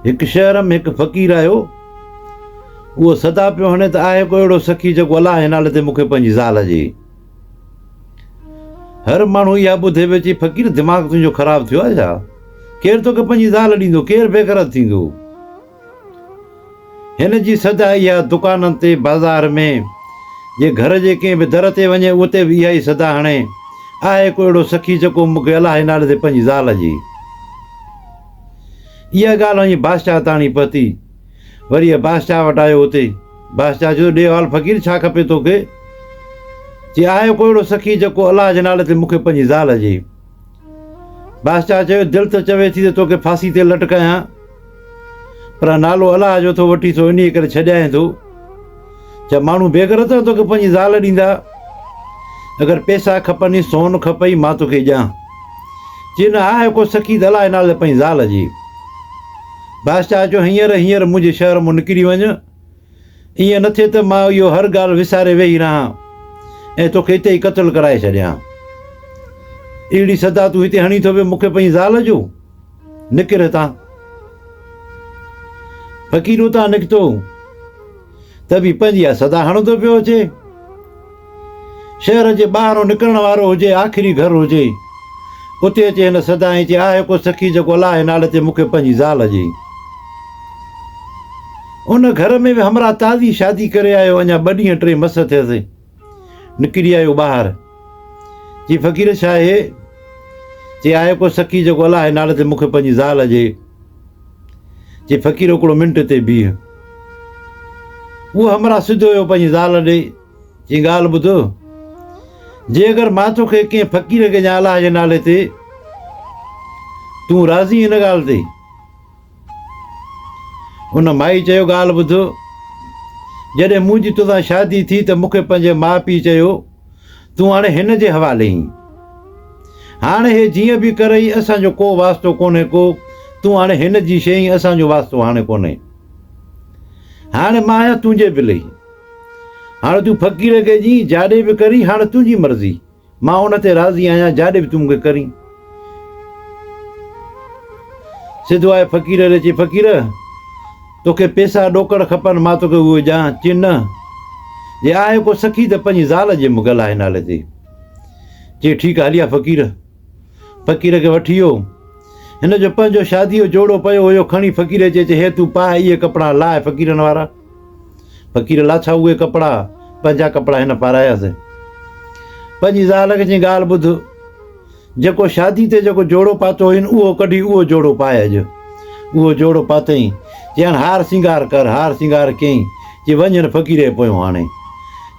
هڪ شهر ۾ هڪ فقير آهيو، اهو صدا پيو هڻي ته آهي ڪو اهڙو سخي جيڪو الله جي نالي تي مون کي پنهنجي زال ڏي. هر ماڻهو اها ٻڌي پيو چئي فقير دماغ تنهنجو خراب ٿيو آهي ڇا؟ ڪير توکي پنهنجي زال ڏيندو، ڪير بيغرض ٿيندو؟ هن جي صدا اها دڪانن تي، بازار ۾، جي گهر جي ڪنهن به در تي وڃي اتي به اها ئي صدا هڻي، آهي ڪو اهڙو سخي جيڪو مون کي الاهي نالي تي پنهنجي زال جي. اها ڳالهه وڃي بادشاهه تاڻي پهتي. وري هي بادشاهه وٽ آيو اتي بادشاهه چيو ڏيهوال فقير ڇا کپي توکي؟ چي آهي ڪو اهڙو سخي جيڪو الاهه جي نالي تي مون کي پنهنجي زال جي. بادشاهه چيو، دل ته چوي ٿي ته توکي ڦاسي تي لٽڪايان، پر نالو الله جو ٿو وٺي سو انهيء ڪري ڇڏيائين ٿو. ڇا ماڻهو بيغرت نه توکي پنهنجي زال ڏيندا؟ اگر پئسا کپني، سون کپئي، مان توکي ڏيان. چي نه آهي ڪو سخي ته الله جي نالي تي پنهنجي زال ڏي. بادشاهه چيو، هينئر هينئر منهنجي شهر مان نڪري وڃ. ائين نه ٿئي ته مان اهو هر ڳالهه وساري ويهي رهان ۽ توکي اتي ئي قتل ڪرائي ڇڏيان. اهڙي صدا تون هتي هڻي ٿو به مون کي پنهنجي زال جو؟ نڪر هتان. فقير اتان نڪتو ته به پنهنجي اها صدا هڻندو پيو اچي. شهر جي ٻاهرون نڪرڻ وارو هجي آخري گهر هجي اتي اچي هن صدا ائين چئي آء هڪو سخي جيڪو الله جي نالي تي مون کي پنهنجي زال ڏي. ان گهر ۾ به همراهه تازي شادي ڪري آيو اڃا ٻه ڏينهن ٽي مس ٿيس نڪري آيو ٻاهر چي فقير ڇا آهي چي آء هڪو سخي جيڪو الله جي نالي تي مون کي پنهنجي زال ڏي چي فقير هڪڙو منٽ تي بيهه اهو همراهه سڌو ويو پنهنجي زال ڏي هي ڳالهه ٻڌ، جي اگر مان توکي ڪنهن فقير کي يا الله جي نالي تي تون راضي ان ڳالهه تي؟ ان مائي چيو ڳالهه ٻڌ، جڏهن منهنجي توسان شادي ٿي ته مونکي پنهنجي ماء پيء چيو تون هاڻي هن جي حوالي آهين. هاڻي هي جيئن به ڪرئي اسان جو ڪو واسطو ڪونهي ڪو تون هاڻي هن جي شيء اسان جو واسطو هاڻي ڪونهي. هاڻي مان آهيان تنهنجي بلي. هاڻ تون فقير کي جي جاڏي به ڪرين هاڻ تنهنجي مرضي مان ان تي راضي آهيان جاڏي به تون مونکي ڪرين سڌو آيو فقير ڏي چي فقير توکي پيسا ڏوڪڙ کپن مان توکي اهو ڏيان چي نه جي آهي ڪو سخي ته پنهنجي زال جي مون ڳل آهي نالي تي چي ٺيڪ آهي هليا فقير فقير کي وٺي ويو هن جو پنهنجو شادي جو جوڙو پيو هيو کڻي فقير چي چي هي تون پاء اهي ڪپڙا لاء فقيرن وارا فقير لا ڇا اهي ڪپڙا، پنهنجا ڪپڙا هن پاراياسين. پنهنجي زال کي چيائين ڳالهه ٻڌ، جيڪو شادي تي جيڪو جوڙو پاتو هئين اهو ڪڍي اهو جوڙو پائي اڄ. اهو جوڙو پاتئين، چيائين هار سينگار ڪر، هار سينگار ڪيائين، چي وڃ هن فقيري پويون هاڻي.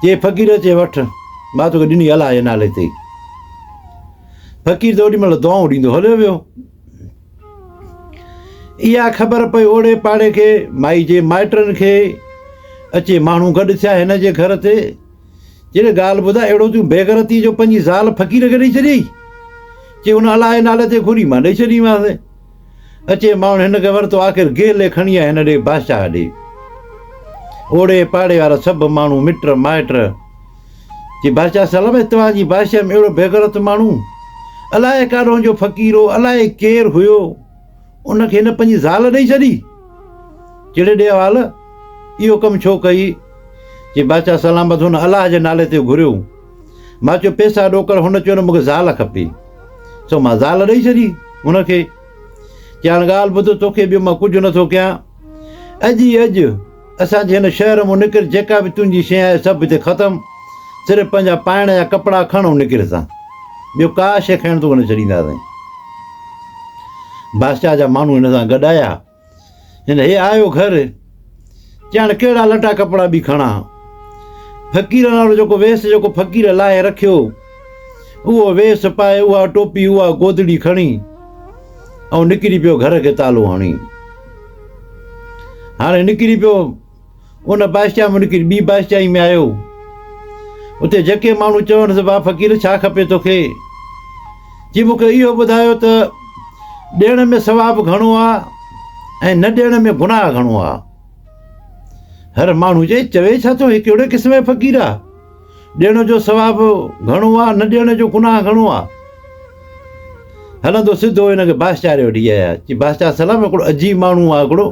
چي فقير چي وٺ، مان توکي ڏني الله جي نالي تي. فقير ته اوڏي مهل دعائون ڏيندو هليو ويو. اها خبر پئي اوڙي پاڙي کي، مائي جي مائٽن کي، اچي ماڻهو گڏ ٿيا هن جي گهر تي، چيڙي ڳالهه ٻڌاء اهڙو تون بيغرتي جو پنهنجي زال فقير کي ڏئي ڇڏيئي؟ چي ان الائي نالي تي گهوري مان ڏئي ڇڏيمانس. اچي ماڻهن هن کي ورتو آخر گهلي کڻي آيا هن ڏي بادشاهه ڏي. اوڙي پاڙي وارا سڀ ماڻهو مٽ مائٽ جي بادشاهه سلم اتوان جي بادشاهي ۾ اهڙو بيغرت ماڻهو الائي ڪاڏهون جو فقير هو الائي ڪير هيو ان کي هن پنهنجي زال ڏئي ڇڏي جهڙي ڏي حوال اهو ڪم ڇو ڪئي جي بادشاهه سلام بس هن الله جي نالي تي گهريو مان چيو پيسا ڏوڪر هن چيو نه مونکي زال کپي سو مان زال ڏئي ڇڏي هن کي چيان ڳالهه ٻڌ توکي ٻيو مان ڪجهه نٿو ڪيان اڄ ئي اڄ اسان جي هن شهر مون نڪر جيڪا به تنهنجي شيء آهي سڀ هتي ختم صرف پنهنجا پائڻ جا ڪپڙا کڻ ۽ نڪر هتان ٻيو ڪا شيء کڻڻ توکي نه ڇڏينداسين. بادشاهه جا ماڻهو هن سان گڏ آيا هن هي آيو گهر چي هاڻي ڪهڙا لٽا ڪپڙا به کڻا فقيرن وارو جيڪو ويس جيڪو فقير لاهي رکيو اهو ويس پائي اها ٽوپي اها گودڙي کڻي ۽ نڪري پيو گهر کي تالو هڻي هاڻي نڪري پيو. ان بادشاهه مان نڪري ٻي بادشاهي ۾ آيو. اتي جيڪي ماڻهو چونس، واهه فقير ڇا کپي توکي؟ جي مون کي اهو ٻڌايو ته ڏيڻ ۾ ثواب گهڻو آ ۽ نه ڏيڻ ۾ گناهه گهڻو آ. هر ماڻهو چئي، چوي ڇا ٿو هي ڪهڙي قسم جو فقير آ؟ ڏيڻ جو ثواب گهڻو آ، نه ڏيڻ جو گناهه گهڻو آ. هلندو سڌو هن کي بادشاهه ڏي وٺي آيا. چي بادشاهه سلام هڪڙو عجيب ماڻهو آ هڪڙو.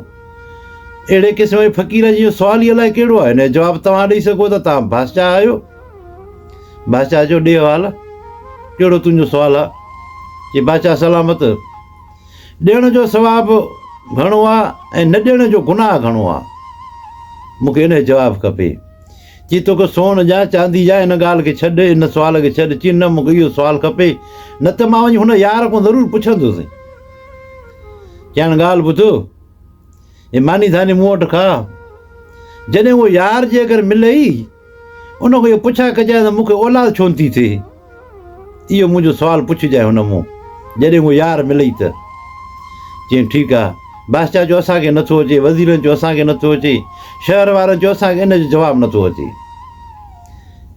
اهڙي قسم جي فقير جي سوال ئي الائي ڪهڙو آ. هن جو جواب توهان ڏئي سگهو ٿا، توهان بادشاهه آهيو. بادشاهه چيو ڏي حوال ڪهڙو تنهنجو سوال آ. چي بادشاهه سلامت ڏيڻ جو ثواب گهڻو آ ۽ نه ڏيڻ جو گناهه گهڻو آ. مون کي ان جو جواب کپي. چي توکي سون ڏيان چاندي جا ان ڳالهه کي ڇڏ ان سوال کي ڇڏ چي نه مونکي اهو سوال کپي نه ته مان وڃي هن يار کان ضرور پڇندس چيائين ڳالهه ٻڌ هي ماني ڌاني مون وٽ کا جڏهن اهو يار جيڪر ملئي ان کان اهو پڇا ڪجانء ته مونکي اولاد ڇو نٿي ٿئي اهو منهنجو سوال پڇجانء هن مون جڏهن اهو يار ملئي ته چيائين ٺيڪ آ بادشاهه چيو اسان کي نٿو اچي وزيرن چيو اسان کي نٿو اچي شهر وارن چيو اسان کي ان جو جواب نٿو اچي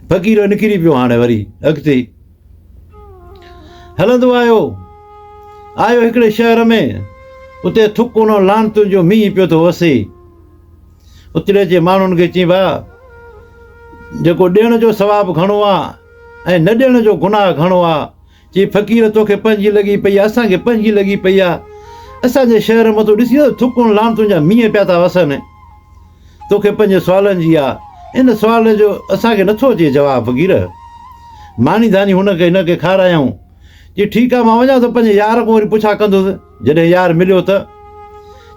فقير نڪري پيو هاڻي وري اڳتي هلندو آيو آيو هڪڙي شهر ۾ اتي ٿڪ ان لانتن جو مينهن پيو ٿو وسي اتري جي ماڻهن کي چئين ڀاء جيڪو ڏيڻ جو ثواب گهڻو آ ۽ نه ڏيڻ جو گناهه گهڻو آ چي فقير توکي پنهنجي لڳي پئي آ اسان کي پنهنجي لڳي پئي آ اسان جي شهر مان تو ڏسين ته ٿڪن لعنتن جا مينهن پيا ٿا وسن توکي پنهنجي سوالن جي آ ان سوال جو اسان کي نٿو اچي جواب فقير ماني ڌاني هن کي هن کي کارايائون چي ٺيڪ آ مان وڃان ٿو پنهنجي يار کان وري پڇا ڪندس جڏهن يار مليو ته،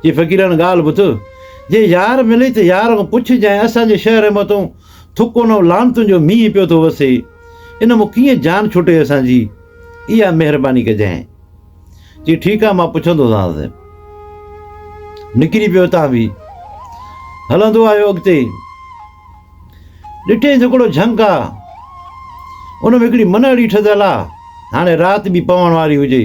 جي فقيراڻ ڳالهه ٻڌ، جي يار ملي ته يار کان پڇ جانء اسان جي شهر ۾ متون ٿڪون ۽ لعنتن جو مينهن پيو ٿو وسي، ان مان ڪيئن جان ڇٽي اسان جي، اها مهرباني ڪجانء. چي ٺيڪ آ مان پڇندوسانس. نڪري پيو اتان به هلندو آيو اڳتي. ڏٺينس هڪڙو جهنگ آ، ان ۾ هڪڙي منهڙي ٺڌل آ، هاڻي رات به پوڻ واري هجي.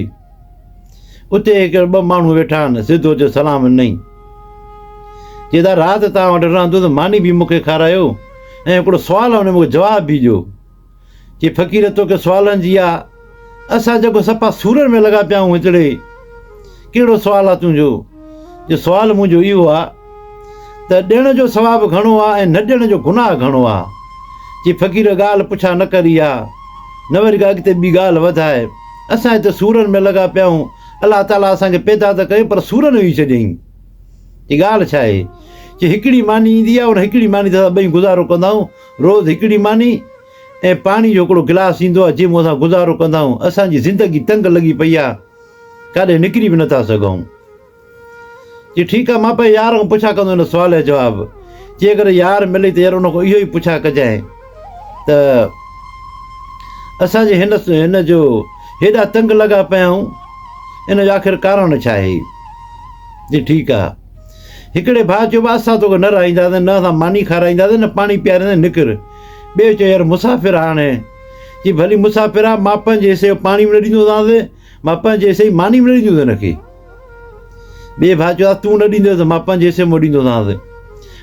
اتي هڪ ٻه ماڻهو ويٺا آهن، سڌو اچيو سلام ڏنائين. چي ته رات توهان وٽ رهان ٿو ته ماني به مون کي کارايو ۽ هڪڙو سوال آهي ان جو مون کي جواب به ڏيو. چي فقير توکي سوالن جي آ، اسان جيڪو سپا سورن ۾ لڳا پيا آهيون هتڙي ڪهڙو سوال آ تنهنجو؟ چي سوال منهنجو اهو آ، ته ڏيڻ جو ثواب گهڻو آ ۽ نه ڏيڻ جو گناهه گهڻو آ. چي فقير ڳالهه پڇا نه ڪر اها نه وري ڪا اڳتي ٻي ڳالهه وڌاء. اسان هتي سورن ۾ لڳا پيا آهيون. الله تعاليٰ اسان کي پيدا ته ڪيو پر سورن ويهي چڏيائين. چي ڳالهه ڇا آهي؟ چي هڪڙي ماني ايندي آ ان هڪڙي ماني تي اسان ٻئي گذارو ڪندا آهيون. روز هڪڙي ماني ۽ پاڻي جو هڪڙو گلاس ايندو آ جنهن مون اسان گذارو ڪندا آهيون. اسان جي زندگي تنگ لڳي پئي آ. ڪاڏي نڪري به نه ٿا سگهون. چي ٺيڪ آ، مان پنهنجي يار کان پڇا ڪندس ان سوال جو جواب. جيڪڏهن يار ملي ته يار ان کان اهو ئي پڇا ڪجانء ته اسان جي هن هن جو هيڏا تنگ لڳا پيا آهيون، ان جو آخر ڪارڻ ڇا آهي؟ چي ٺيڪ آ. هڪڙي ڀاء چيو بس اسان توکي نه رهائينداسين، نه اسان ماني کارائينداسين، نه پاڻي پيارينداسين، نڪر. ٻيو چيو يار مسافر آ هاڻي. چي ڀلي مسافر آ، مان پنهنجي حصي جو پاڻي به نه ڏيندوسانس، مان پنهنجي حصي جي ماني به نه ڏيندوس هن کي. ٻئي ڀاء چيو تون نه ڏيندوس ته مان پنهنجي حصي مان ڏيندوسانس.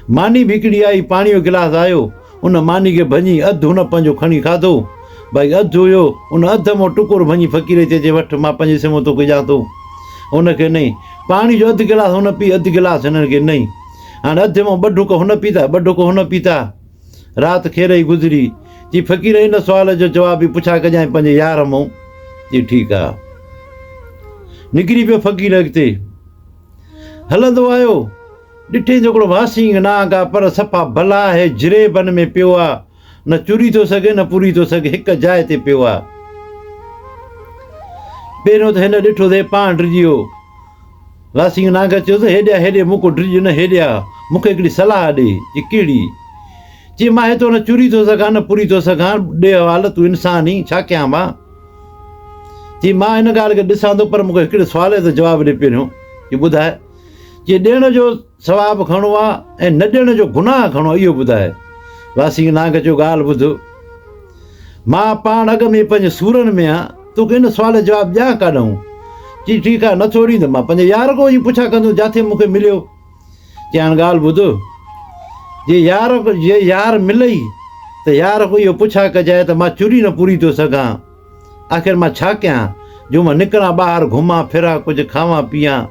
ماني به هڪڙي آئي، پاڻي جو گلاس آيو، ان ماني کي ڀڃي اڌ هن پنهنجو کڻي کاڌو، باقي اڌ هيو، ان اڌ مان ٽڪر ڀڃي فقير کي چيو وٺ مان پنهنجي حصي مان توکي ڏيان ٿو. هن کي ڏنائين. پاڻي جو اڌ گلاس هن پي، اڌ گلاس هنن کي ڏنائين. هاڻي اڌ مان ٻه ڍڪ هن پيتا، ٻه ڍڪ هن پيتا. رات کير ئي گذري. جي فقير ان سوال جو جواب به پڇا ڪجانء پنهنجي يار مون. جي ٺيڪ آ. نڪري پيو فقير اڳتي. هلندو آيو. ڏٺئين جو هڪڙو واسينگ نانگ آ پر صفا بلا آهي جري بن ۾ پيو آ. نه چري ٿو سگهي نه پوري ٿو سگهي هڪ جاء تي پيو آ. پهريون ته هن ڏٺو ته هي پاڻ ڊڄي ويو. راسينگ ناگر چيو ته هيڏيا هيڏي مون ڪو ڊڄ نه هيڏيا مون کي هڪڙي صلاح ڏي. چي ڪهڙي؟ چي مان هتو نه چري ٿو سگهان نه پوري ٿو سگهان ڏي حوال تون انسان هين ڇا ڪيان مان؟ چي مان ان ڳالهه کي ڏسان ٿو پر مون کي هڪڙي سوالي تي جواب ڏي پهريون. چي ٻڌاء؟ چي ڏيڻ جو ثواب گهڻو آ ۽ نه ڏيڻ جو گناهه گهڻو آ اهو ٻڌاء. واسين نانگ چيو ڳالهه ٻڌ. مان پاڻ اڳ ۾ ئي پنهنجي سورن ۾ آهيان، توکي ان سوال جو جواب ڏيان ڪاڏانهون؟ چيائين ٺيڪ آهي، نٿو ڏين ته مان پنهنجي يار ڪوء جي پڇا ڪندس جاٿي مون کي مليو. چيائين هاڻ ڳالهه ٻڌ. جي يار جي يار ملئي ته يار ڪوء اهو پڇا ڪجانء ته مان چري نه پوري ٿو سگهان. آخر مان ڇا ڪيان جو مان نڪران ٻاهر گهمان ڦران ڪجهه کاوان پيئان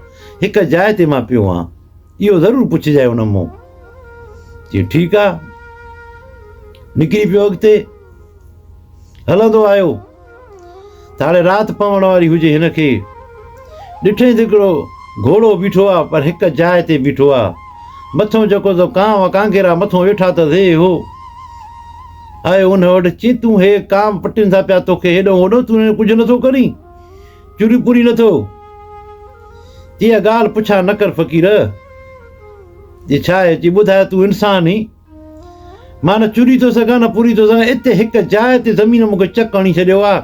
هڪ جاء تي مان پيو هان اهو ضرور پڇجاء هن مون چي ٺيڪ آ نڪري پيو اڳتي هلندو آيو تاڙي رات پوڻ واري هجي هن کي ڏٺئين ته هڪڙو گهوڙو بيٺو آ پر هڪ جاء تي بيٺو آ مٿو جيڪو ته ڪانو ڪانگيرا مٿو ويٺا ته ذي هو آيو ان وٽ، چي تون هي ڪام پٽين ٿا پيا توکي هيڏو هوڏو تون هن ڪجهه نٿو ڪرين؟ چوري پوري نٿو؟ چي اها ڳالهه پڇا نه ڪر فقير. چي ڇا آهي؟ چي ٻڌاء تون انسان هين. مان نه چوري ٿو سگهان نه پوري ٿو سگهان اتي هڪ جاء تي زمين مون کي چڪ هڻي ڇڏيو آ.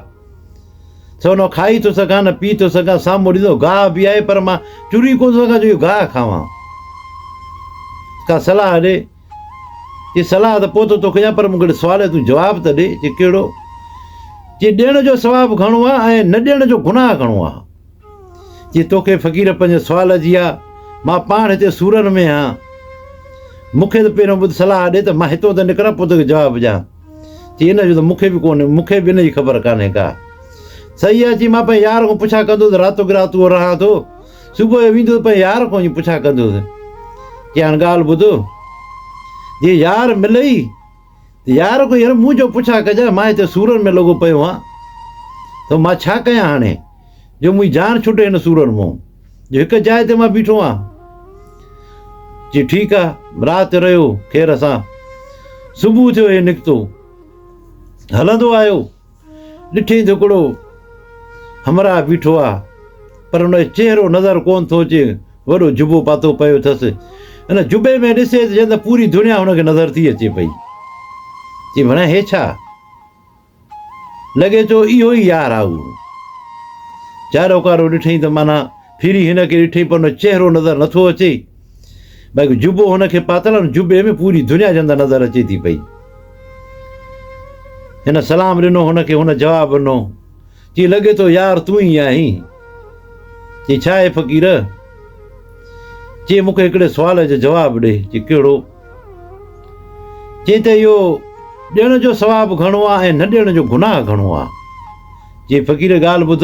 سو نه کائي ٿو سگهان نه پي ٿو سگهان سامهون ڏسو گاهه به آهي پر مان چوري ڪونه ٿو سگهان جو اهو گاهه کاوان. ڪا صلاح ڏي. چي صلاح ته پوء ٿو توکي ڏيان پر مون کي هڪڙي سوال جو تون جواب ته ڏي. چي ڪهڙو؟ چي ڏيڻ جو ثواب گهڻو آ ۽ نه ڏيڻ جو گناهه گهڻو آ. چي توکي فقير پنهنجي سوال جي آ. مان پاڻ هتي سورن ۾ آهيان. مون کي ته پهريون ٻڌ صلاح ڏي ته مان هتون ته نڪران پوء توکي جواب ڏيان. چي ان جو ته مون کي به ڪونهي مون کي به ان جي خبر ڪانهي ڪا. صحيح آ چي مان پنهنجي يار کان پڇا ڪندو ته راتو ڪي رات اهو رهان ٿو. صبح جو ويندس پنهنجي يار کان وڃي پڇا ڪندس چي هاڻ ڳالهه ٻڌو جي يار ملئي ته يار کان يار مون جو پڇا ڪجانء مان هتي سورن ۾ لڳو پيو آهيان ته مان ڇا ڪيان هاڻي جو منهنجي جان ڇٽي هن سورن مون جو هڪ جاء تي مان بيٺو آهيان چي ٺيڪ آهي رات رهيو خير سان صبح ٿيو هي نڪتو هلندو آيو ڏٺين ته ھڪڙو ھمراھ بيٺو آ پر ان جو چهرو نظر ڪونه ٿو اچي، وڏو جبو پاتو پيو اٿس، ان جبي ۾ ڏسي ته ڄڻ ته پوري دنيا ھن کي نظر ٿي اچي پئي، چي ڀڻيا ھي ڇا؟ لڳي ٿو اھو ئي يار آ اھو. چاروڪارو ڏٺئين ته معنيٰ ڦري ھن کي ڏٺئين پر ان جو چهرو نظر نٿو اچي. بلڪ جبو هن کي پاتل آهي، ان جبي ۾ پوري دنيا جي اندر نظر اچي ٿي پئي. هن سلام ڏنو هن کي، هن جواب ڏنو، چي لڳي ٿو يار تون ئي آهين. چي ڇا اي فقير؟ چي مون کي هڪڙي سوال جو جواب ڏي. چي ڪهڙو؟ چي ته اهو ڏيڻ جو ثواب گهڻو آهي ۽ نه ڏيڻ جو گناهه گهڻو آهي. چيائين، فقير ڳالهه ٻڌ،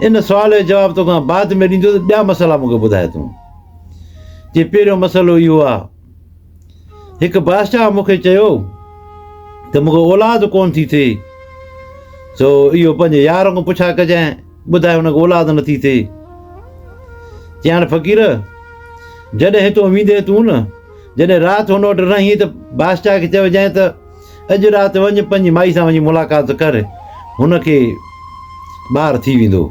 ان سوال جو جواب توکان بعد ۾ ڏيندو ته ٻيا مسئلا مون کي ٻڌاء تون. چيائين، پهريون مسئلو اهو آ، هڪ بادشاهه مون کي چيو ته مون کي اولاد ڪونه ٿي ٿئي، سو اهو پنهنجي يار کان پڇا ڪجانء، ٻڌاء هن کي اولاد نٿي ٿئي. چيائين، فقير! جڏهن هتان ويندين تون نه، جڏهن رات هن وٽ رهين ته بادشاهه کي چئجانء ته، اڄ رات وڃ پنهنجي مائي سان وڃي ملاقات ڪر هن کي ٻار ٿي ويندو.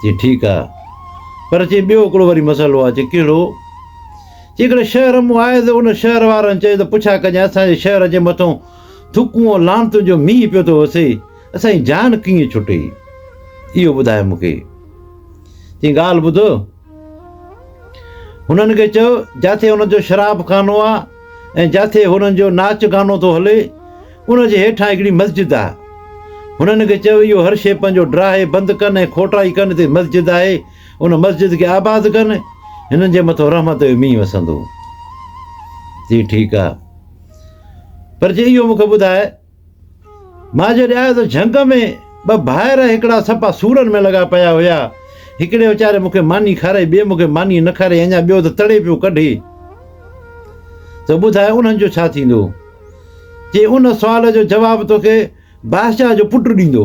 چي ٺيڪ آ پر چي ٻيو هڪڙو وري مسئلو آ چي ڪهڙو جيڪڏهن شهر مون آئي ته ان شهر وارن چئي ته پڇا ڪجان اسان جي شهر جي مٿو ٿڪون ۽ لعنتن جو مينهن پيو ٿو وسي اسان جي جان ڪيئن ڇٽي اهو ٻڌاء مون کي چي ڳالهه ٻڌ هنن کي چئو، جاٿي هنن جو شراب خانو آ ۽ جاٿي هنن جو ناچ گانو ٿو هلي، ان جي هيٺان هڪڙي مسجد آ. هنن کي چئو، اهو هر شيء پنهنجو ڊراهي بند ڪن ۽ کوٽائي ڪن، هتي مسجد آهي، ان مسجد کي آباد ڪن، هنن جي مٿو رحمت جو مينهن وسندو. چي، ٺيڪ آ. پر جي اهو مون کي ٻڌاء. مان جڏهن آيو ته جهنگ ۾ ٻه ڀائر هڪڙا سپا سورن ۾ لڳا پيا هيا. هڪڙي ويچاري مون کي ماني کارائي، ٻئي مون کي ماني نه کارائي اڃا ٻيو ته تڙي پيو ڪڍي. ته ٻڌاء انهن جو ڇا ٿيندو؟ چي ان سوال جو جواب توکي بادشاهه جو پٽ ڏيندو.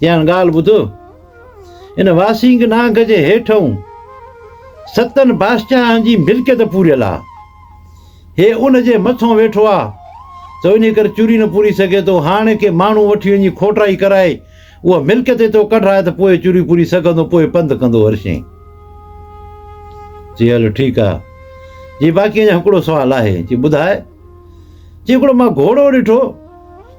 ڄڻ ڳالهه ٻڌ، ان واسينگ نانگ جي هيٺئون ستن بادشاهن جي ملڪيت پوريل آ. هي ان جي مٿئون ويٺو آ ته انهي ڪري چوري نه پوري سگهي ٿو. هاڻي ڪي ماڻهو وٺي وڃي کوٽائي ڪرائي اها ملڪيت هتئون ڪڍرائي ته پوء چوري پوري سگهندو، پوء پنڌ ڪندو هرشين. چي هل ٺيڪ آ. چي باقي اڃا هڪڙو سوال آهي. چي ٻڌاء. چي هڪڙو مان گهوڙو ڏٺو.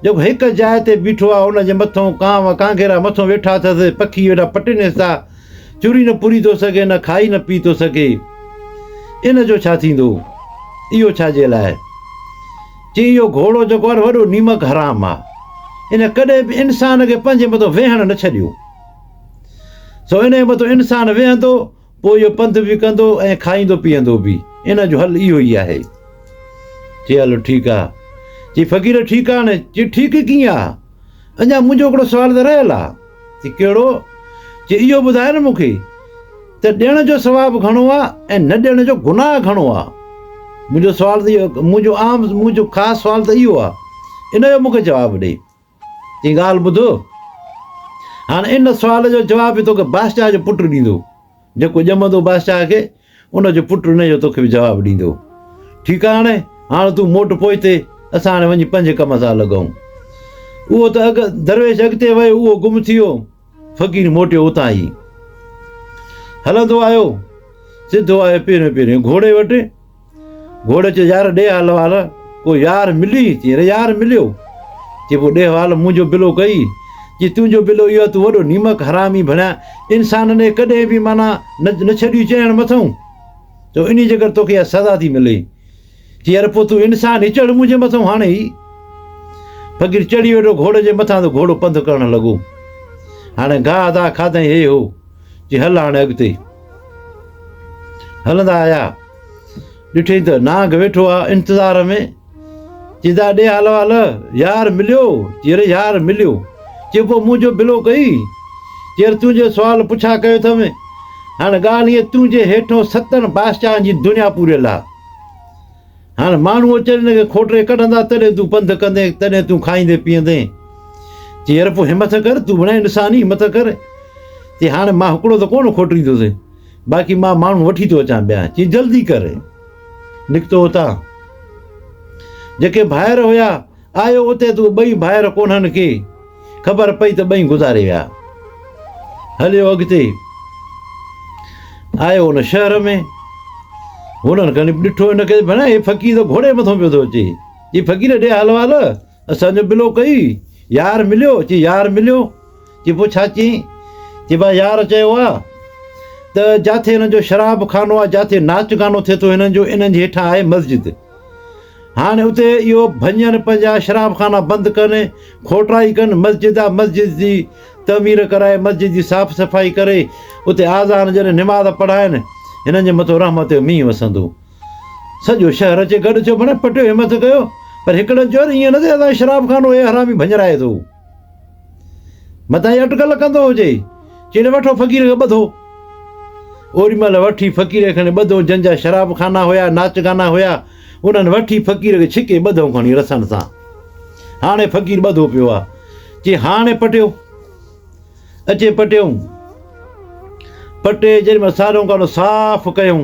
جيڪو هڪ جاء تي بيٺو آ، ان جي مٿئون ڪانء و ڪانگيرا مٿئون ويٺا اٿس، پکي ويٺا پٽين حصا، چوري نه پوري ٿو سگهي، نه کائي نه پي ٿو سگهي، ان جو ڇا ٿيندو؟ اهو ڇا جي لاء؟ چيائين اهو گهوڙو جيڪو آ نه وڏو نيمڪ حرام آ، ان ڪڏهن به انسان کي پنهنجي مٿئون ويهڻ نه ڇڏيو، سو ان جي مٿئون انسان ويهندو، پوء اهو پنڌ به ڪندو ۽ کائيندو پيئندو به. ان جو حل اهو ئي آهي. چي هلو ٺيڪ آ. چي فقير ٺيڪ آ نه؟ چي ٺيڪ ڪيئن آ؟ اڃا منهنجو هڪڙو سوال ته رهيل آ. چي ڪهڙو؟ چي اهو ٻڌاء نه مونکي ته ڏيڻ جو ثواب گهڻو آ ۽ نه ڏيڻ جو گناهه گهڻو آ. منهنجو سوال ته اهو، منهنجو عام، منهنجو خاص سوال ته اهو آ. ان جو مونکي جواب ڏي. جي ڳالهه ٻڌ، هاڻ ان سوال جو جواب به توکي بادشاهه جو پٽ ڏيندو، جيڪو ڄمندو بادشاهه کي، ان جو پٽ ان جو توکي به جواب ڏيندو. ٺيڪ آ هاڻي، هاڻ تون موٽ پوئتي، اسان هاڻي وڃي پنهنجي ڪم سان لڳون. اهو ته اڳ درويش اڳتي ويو، اهو گم ٿي ويو، فقير موٽيو اتان ئي. هلندو آيو، سڌو آيو پهريون پهريون گهوڙي وٽ. گهوڙي چيو يار ڏي حال وال ڪو يار ملي چي ري يار مليو چي پو ڏي حال منهنجو بلو ڪئي چي تنهنجو بلو اهو تو وڏو نيمڪ حرامي ڀڻيا انسان ني ڪڏهن به معنيٰ نه ڇڏي چيڻ مٿئون تو انهي جي ڪري توکي اها سزا ٿي ملي چي يار پو تو انسان هي چڙ منهنجي مٿئون هاڻي هي فقير چڙهي ويٺو گهوڙي جي مٿان ته گهوڙو پنڌ ڪرڻ لڳو هاڻي گاهه داهه کاڌائين هي هو چي هل هاڻي اڳتي. هلندا آيا. ڏٺئي ته نانگ ويٺو آ انتظار ۾. چي دا ڏي هال وال، يار مليو؟ چي اري يار مليو. چي پوء مون جو بلو ڪئي؟ چي اري تون جو سوال پڇا ڪيو اٿم. هاڻي ڳالهه هيء تون جي هيٺون ستن بادشاهن جي دنيا پوريل آ. هاڻ ماڻهو اچن هن کي کوٽري ڪڍندا تڏهن تون پنڌ ڪندين تڏهن تون کائيندين پيئندين چي يار پوء همٿ ڪر تون بڻائي انسان ئي همٿ ڪر چي هاڻي مان هڪڙو ته ڪونه کوٽريندوسين باقي مان ماڻهو وٺي ٿو اچان ٻيا چي جلدي ڪر نڪتو اتان جيڪي ڀائر هيا آيو اتي ته ٻئي ڀائر ڪونهن کي خبر پئي ته ٻئي گذاري ويا. هليو اڳتي آيو ان شهر ۾ هنن کڻي ڏٺو هن کي ڀيڻا هي فقير ته گهوڙي مٿان پيو ٿو اچي چي فقير ڏي حال وال اسان جو بلو ڪئي يار مليو چي يار مليو چي پوء ڇا چيئين چي با يار چيو آهي ته جاٿي هنن جو شراب خانو آهي جاٿي ناچ گانو ٿئي ٿو هنن جو انهن جي هيٺان آهي مسجد هاڻي اتي اهو ڀڃن پنهنجا شراب خانا بند ڪن کوٽائي ڪن مسجد آ مسجد جي تعمير ڪرائي مسجد جي صاف صفائي ڪري اتي آذان جڏهن نماز پڙهائن هنن جي مٿو رحمت جو مينهن وسندو سڄو شهر اچي گڏ ٿيو بڻي پٽيو همٿ ڪيو پر هڪڙن چيو ايئن نه ٿي اسان شراب خانو اي حرامي ڀڃرائي ٿو متان هي اٽڪل ڪندو هجي، چيڙي وٺو فقير کي ٻڌو. اوري مهل وٺي فقير کي کڻي ٻڌو، جن جا شراب خانا هيا، ناچ گانا هيا، انهن وٺي فقير کي ڇڪي ٻڌو کڻي رسن سان. هاڻي فقير ٻڌو پيو آ، چي هاڻي پٽيو، اچي پٽيئون. پٽي جيڏي مهل ساريون ڪانو صاف ڪيئون،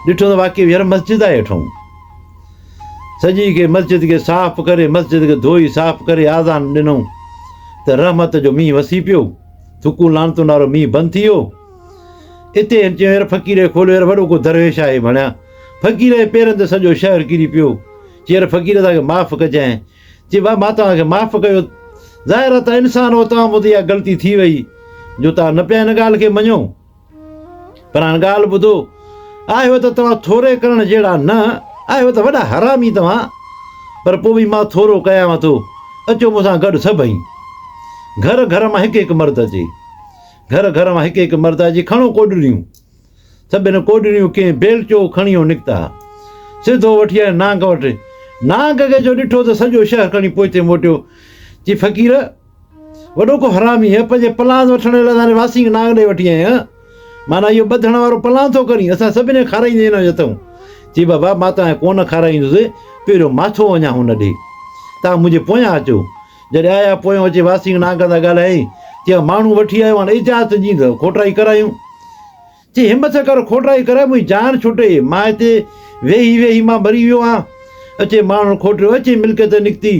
ڏٺو ته واقعي ويهر مسجد آهي هيٺئون. سڄي کي مسجد کي صاف ڪري مسجد کي ڌوئي صاف ڪري آذان ڏنئون ته رحمت جو مينهن وسي پيو ٿڪون لعنتن وارو مينهن بند ٿي ويو اتي هن چيو يار فقير کي کوليو يار وڏو ڪو درويش آهي ڀڻيا فقير جي پيرن تي سڄو شهر ڪري پيو چي يار فقير اسان کي معاف ڪجانء چي ڀا مان توهان کي معاف ڪيو ظاهر آهي توهان انسان هو توهان مون تي اها غلطي ٿي وئي جو توهان نه پيا هن ڳالهه کي مڃو پر هاڻ ڳالهه ٻڌو، آهيو ته توهان ٿوري ڪرڻ جهڙا نه، آهيو ته وڏا حرامي توهان، پر پوء به مان ٿورو ڪيانو ٿو، اچو مون سان گڏ سڀئي. گهر گهر مان هڪ هڪ مرد اچي. گهر گهر مان هڪ هڪ مرد اچي کڻو ڪوڏڙيون. سڀني ڪوڏڙيون ڪنهن بيلچو کڻيو نڪتا. سڌو وٺي آيو نانگ وٽ. نانگ کي جو ڏٺو ته سڄو شهر کڻي پوئتي موٽيو. چي فقير! وڏو ڪو حرامي هي پنهنجي پلان وٺڻ ويل اسان کي واسين کي نانگ ڏئي وٺي آئين هان معنيٰ اهو ٻڌڻ وارو پلان ٿو ڪرين اسان سڀني کي کارائيندي هن جو اٿئون چي بابا مان توهان کي ڪونه کارائيندس پهريون ماٿو وڃان هن ڏي توهان منهنجي پويان اچو جڏهن آيا پويان اچي واسين نانگ سان ڳالهايائين چيائين ماڻهو وٺي آيو هان اجازت ڏيندؤ کوٽائي ڪرايون چي همٿ ڪر کوٽرائي ڪري منهنجي جان ڇٽي مان هتي ويهي ويهي مان مري ويو آهيان اچي ماڻهن کوٽيو اچي ملڪيت نڪتي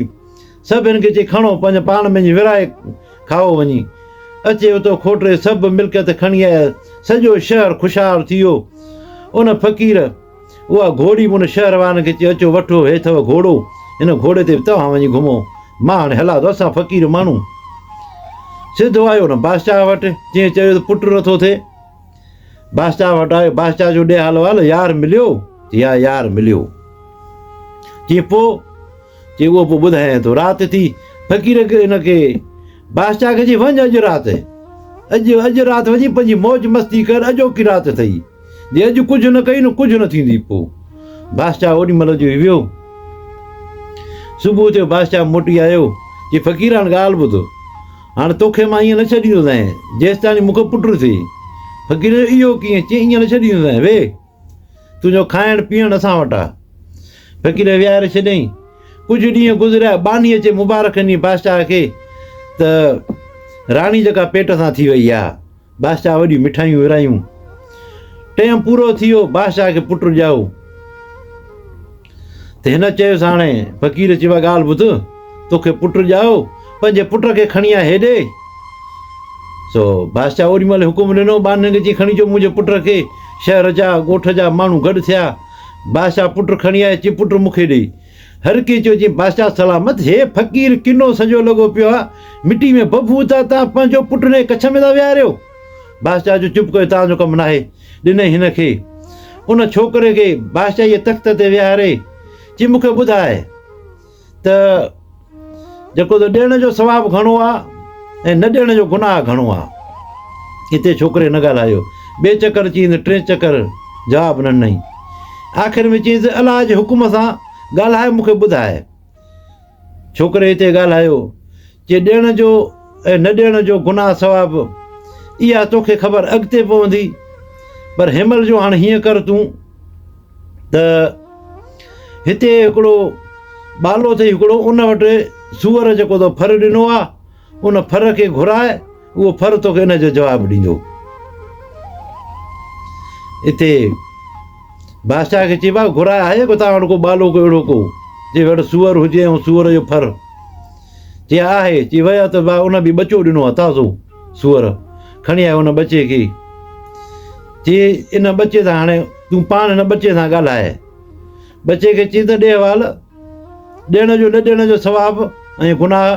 سڀ هن کي چي کڻو پنهنجي پاڻ ۾ جي ورهائي کائو وڃي اچي اتو کوٽري سڀ ملڪيت کڻي آيا سڄو شهر خوشحال ٿي ويو ان فقير اها گهوڙي به ان شهر وارن کي چي، اچو وٺو، هي اٿو گهوڙو، هن گهوڙي تي به توهان وڃي گهمو، مان هاڻي هلان ٿو، اسان فقير ماڻهو. سڌو آيو ان بادشاهه وٽ، جنهن چيو ته پٽ نٿو ٿئي. بادشاهه وٽ آيو، بادشاهه چيو ڏي حال وال، يار مليو؟ چي ها يار مليو. چي پوء؟ چي اهو پوء ٻڌايائين ٿو، رات ٿي، فقير ان کي بادشاهه کي چي وڃ اڄ رات، اڄ اڄ رات وڃي پنهنجي موج مستي ڪر، اڄوڪي رات اٿئي. جي اڄ ڪجهه نه ڪئي نه ڪجهه نه ٿيندي پوء بادشاهه اوڏي مهل جو هي ويو صبح ٿيو بادشاهه موٽي آيو جي فقير هاڻ ڳالهه ٻڌ هاڻ توکي مان ائين نه ڇڏيندوسانء جيستاڻي مونکي پٽ نه ٿئي فقير اهو ڪيئن چي ائين نه ڇڏيندوسانء وي تنهنجو کائڻ پيئڻ اسان وٽ آ فقير ويهاري ڇڏيائين ڪجهه ڏينهن گذريا ٻانهي اچي مبارڪ ڏني بادشاهه کي ته راڻي جيڪا پيٽ سان ٿي وئي آ بادشاهه وڏيون مٺايون ورايون. ٽيم پورو ٿي ويو، بادشاهه کي پٽ ڄائو. ته هن چيس هاڻي فقير چيو ڳالهه ٻڌ، توکي پٽ ڄائو، پنهنجي پٽ کي کڻي آ هيڏي. سو بادشاهه اوڏي مهل حڪم ڏنو، ٻانهن کي چي کڻي اچو منهنجي پٽ کي. شهر جا، ڳوٺ جا ماڻهو گڏ ٿيا. بادشاهه پٽ کڻي آيو، چي پٽ مونکي ڏي. هر ڪنهن چيو جي بادشاهه سلامت، هي فقير ڪنو سڄو لڳو پيو آ، مٽي ۾ ڀڦون ٿا، توهان پنهنجو پٽ هن جي ڪڇ ۾ ٿا ويهاريو؟ بادشاهه چيو چپ ڪيو توهان جو ڪم ناهي، ڏنئي هن کي. ان ڇوڪري کي بادشاهي جي تخت تي ويهاري چي مون کي ٻڌاء ته. جيڪو ته ڏيڻ جو ثواب گهڻو آ ۽ نه ڏيڻ جو گناهه گهڻو آ. اتي ڇوڪري نه ڳالهايو. ٻئي چڪر چيئين ته ٽئين چڪر جواب نه ڏنائين. آخر ۾ چيئين ته الله جي حڪم سان ڳالهائي مون کي ٻڌاء. ڇوڪري اتي ڳالهايو. چي ڏيڻ جو ۽ نه ڏيڻ جو گناهه ثواب اها توکي خبر اڳتي پوندي. پر هيمل جو هاڻ هيئن ڪر تون. ته هتي هڪڙو ٻالو اٿئي هڪڙو ان وٽ سوئر جيڪو تو ڦر ڏنو آ ان ڦر کي گهرائي اهو ڦر توکي ان جو جواب ڏيندو اتي بادشاهه کي چيبا گهرائي آهي ڪو تان وٽ ڪو ٻالو ڪو اهڙو ڪو جي وٽ سوئر هجي ۽ سوئر جو ڦر چي ها آهي، چي ويا ته وا ان به ٻچو ڏنو آهي تازو سوئر کڻي آيو ان ٻچي کي چي ان ٻچي سان هاڻي تون پاڻ هن ٻچي سان ڳالهاء ٻچي کي چي ته ڏي وال ڏيڻ جو نه ڏيڻ جو ثواب ۽ گناهه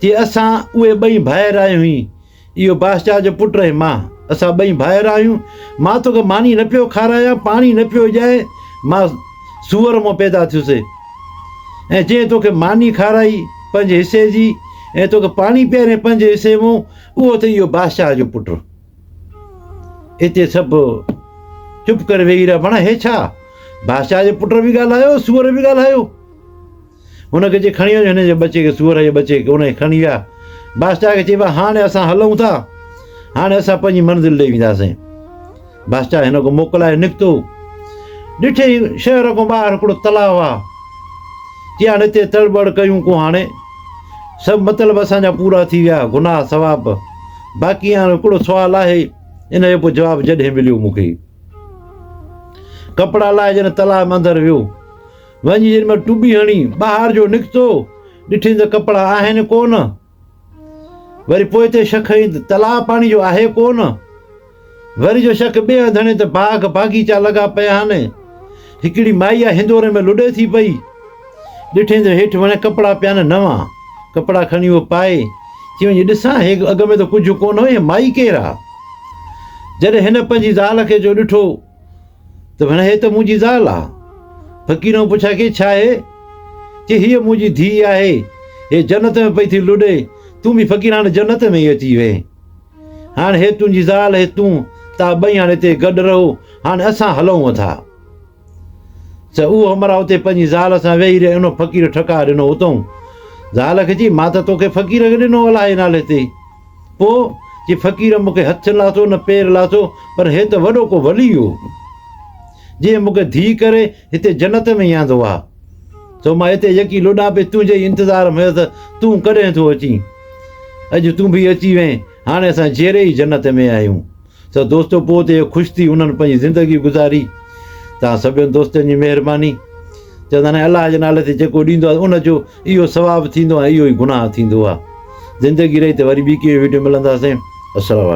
چي اسان اهي ٻئي ڀائر آهيون هي اهو بادشاهه جو پٽ ۽ مان، اسان ٻئي ڀائر آهيون. مان توکي ماني نه پيو کارايان، پاڻي نه پيو ڏيان، مان سوئر مان پيدا ٿيس، ۽ جنهن توکي ماني کارائي پنهنجي حصي جي، ۽ توکي پاڻي پياريائين پنهنجي حصي مان، اهو اٿئي اهو بادشاهه جو پٽ. اتي سڀ چپ ڪري ويهي رهيا، معنيٰ هي ڇا؟ بادشاهه جو پٽ به ڳالهايو، سوئر به ڳالهايو. هن کي چي کڻي وڃ هن جي ٻچي کي سوئر جي ٻچي کي ان کي کڻي ويا بادشاهه کي چيبو هاڻي اسان هلون ٿا هاڻي اسان پنهنجي منزل ڏي وينداسين بادشاهه هن کي موڪلائي نڪتو ڏٺي شهر کان ٻاهر هڪڙو تلاء آ چي هاڻي هتي تڙٻڙ ڪيون ڪو هاڻي سڀ مطلب اسان جا پورا ٿي ويا گناهه ثواب باقي هاڻي هڪڙو سوال آهي ان جو پوء جواب جڏهن مليو مون کي ڪپڙا لاهي جڏهن تلاء اندر ويو وڃي جن مان ٽٻي هڻي ٻاهر جو نڪتو، ڏٺين ته ڪپڙا آهن ڪو نه. وري پوئتي شڪ هنئي ته تلاء پاڻي جو آهي ڪو نه. وري جو شڪ ٻئي هنڌ هڻي ته باغ باغيچا لڳا پيا آهن. هڪڙي مائي آ هندوري ۾ لڏي ٿي پئي. ڏٺين ته هيٺ وڻي ڪپڙا پيا آهن نوان. ڪپڙا کڻي هوء پائي، چي وڃي ڏسان هي اڳ ۾ ته ڪجهه ڪو نه هئي، هي مائي ڪير آ؟ جڏهن هن پنهنجي زال کي جو ڏٺو، ته ڀيڻ هيء ته منهنجي زال آ. فقيرئون پڇا ڪي ڇا هي؟ چي هيء منهنجي ڌيء آهي، هيء جنت ۾ پئي ٿي لڏي، تون به فقير هاڻ جنت ۾ ئي اچي ويهه. هاڻ هيء تنهنجي زال، هيء تون، توهان ٻئي هاڻ هتي گڏ رهو، هاڻ اسان هلئون ٿا. سو اهو همراهه اتي پنهنجي زال سان ويهي رهي ۽ ان فقير ٺڪاء ڏنو اتئون زال کي چئي مان ته توکي فقير کي ڏنو الاهي نالي تي. پوء جي فقير مون کي هٿ لاٿو نه پير لاٿو پر هي ته وڏو ڪو ولي هو، جنهن مون کي ڌيء ڪري هتي جنت ۾ ياندو آ، سو مان هتي يڪي لڏاپي تنهنجي ئي انتظار ۾ هيس تون ڪڏهن ٿو اچين؟ اڄ تون به اچي وئين، هاڻي اسان جيئري ئي جنت ۾ آهيون. سو دوستو پوء ته اهو خوش ٿي انهن پنهنجي زندگي گذاري. توهان سڀني دوستن جي مهرباني. چوندا آهن الله جي نالي تي جيڪو ڏيندو آهي ان جو اهو ثواب ٿيندو ۽ اهو ئي گناهه ٿيندو آهي. زندگي رهي ته وري ٻي ڪنهن ويڊيو ملنداسين. السلام عليڪم.